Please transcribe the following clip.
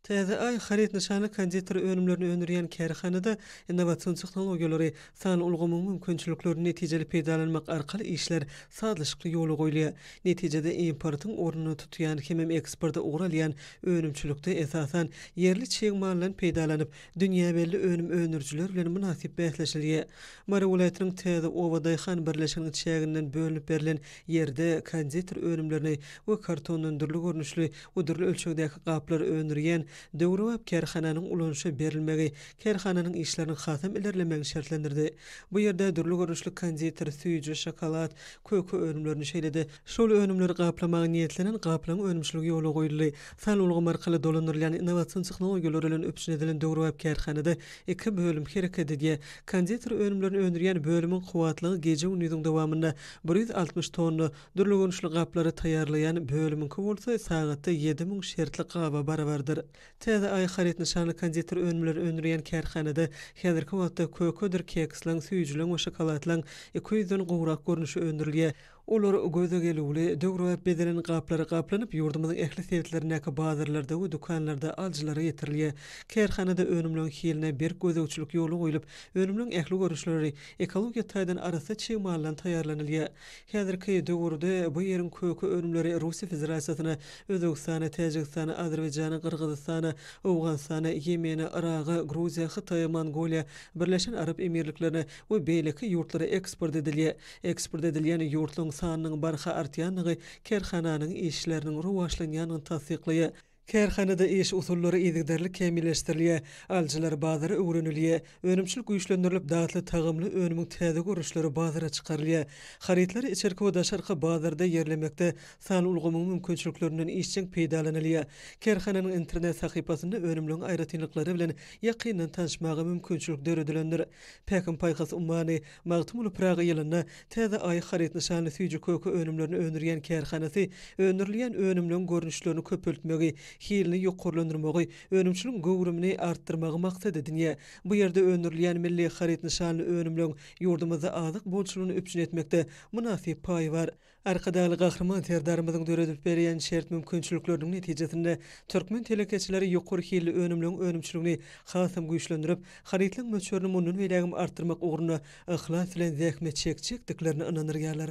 Täze Aý haryt nyşany konditer önümlerini öndürýän kärhanada innowasion tehnologiýalary, sanly ulgamyň mümkinçiliklerini netijeli peýdalanmak arkaly işler sazlaşykly ýola goýulýar. Netijede importyň ornuny tutýan hemem eksporta ugur alýan önümçilikde esasan ýerli çig maldan peýdalanyp, dünýä belli önüm öndürijiler bilen mynasyp bäsleşilýär. Mary welaýatynyň Täze oba daýhan birleşiginiň çäginden bölünip berlen ýerde konditer önümlerini we kartondan dürli görnüşli Bu dürli ölçegdäki gaplary öndürýän döwrebap kärhananyň ulanyşa berilmegi kärhananyň işleriniň hasam ilerlemegini şertlendirdi. Bu ýerde dürli görnüşli konditer, süýji, şokolad, köke önümlerini, şeýle-de, şol önümleri gaplamaga niýetlenen gaplaň önümçiligi ýola goýuldy. San ulgamy arkaly dolandyrylýan innowasion tehnologiýalar bilen üpjün edilen döwrebap kärhanada iki bölüm hereket edýär. Konditer önümlerini öndürýän bölümiň kuwwatlygy gije-gündiziň dowamynda bir ýüz altmyş tonna, Dürli görnüşli gaplary taýýarlaýan bölümiňki bolsa sagatda ýedi müň şertlik gaba barabardyr. Täze Aý haryt nyşanly konditer önümleri öndürýän kärhanada häzirki wagtda kökedir keksleň, süýjüleň we şokoladlaň iki ýüzden gowrak görnüşi öndürilýär. Olar göze gelüwli, döwrebap bezelen gaplara gaplanyp, ýurdumyzyň ähli sebitlerindäki bazarlarda we dükanlarda alyjylara ýetirilýär. Kärhanada önümleň hiline berk gözegçilik ýola goýlup, önümleň ähli görnüşleri ekologiýa taýdan arassa çig maldan taýýarlanylýar. Häzirki döwürde bu ýeriň köke önümleri Russiýa Federasiýasyna, Özbegistana, Täjigistana, Azerbaýjana, Gyrgyzystana, Owganystana, Ýemene, Yraga, Gruziýa, Hytaýa, Mongoliýa, Birleşen Arap Emirliklerine we beýleki ýurtlara eksport edilýär. Eksport edilýän ýurtlaryň sanynyň barha artýandygy kärhananyň işleriniň rowaçlanýandygyny tassyklaýar. Kärhanada iş usullary yzygiderli kämilleşdirilýär, alyjylar bazary öwrenilýär, önümçilik güýçlendirilip, datly tagamly önümiň täze görnüşleri bazara çykarylýar. Harytlary içerki we daşarky bazarda ýerlemekde sanly ulgamyň mümkinçiliklerinden işjeň peýdalanylýar. Kärhananyň internet sahypasynda önümligiň aýratynlyklary bilen ýakyndan tanyşmaga mümkinçilik döredilendir. Päkim-paýhas ummany, Magtymguly Pyragy ýylynda Täze Aý haryt nyşanly süýji köke önümlerini öndürýän kärhanasy öndürilýän önümleň görnüşlerini köpeltmegi, hilini ýokarlandyrmagy, önümçiligiň göwrümini artdyrmagy maksat edinýär. Bu ýerde öndürilýän milli haryt nyşanly önümleň ýurdumyzda azyk bolçulygyny üpjün etmekde mynasyp paýy bar. Arkadagly Gahryman Serdarymyzyň döredip berýän şert mümkinçilikleriniň netijesinde, türkmen telekeçileri ýokary hilli önümleň önümçiligini hasam güýçlendirip, harytlaryň möçberini mundan beýlägem artdyrmak ugrunda yhlas bilen zähmet çekjekdiklerine ynandyrýarlar.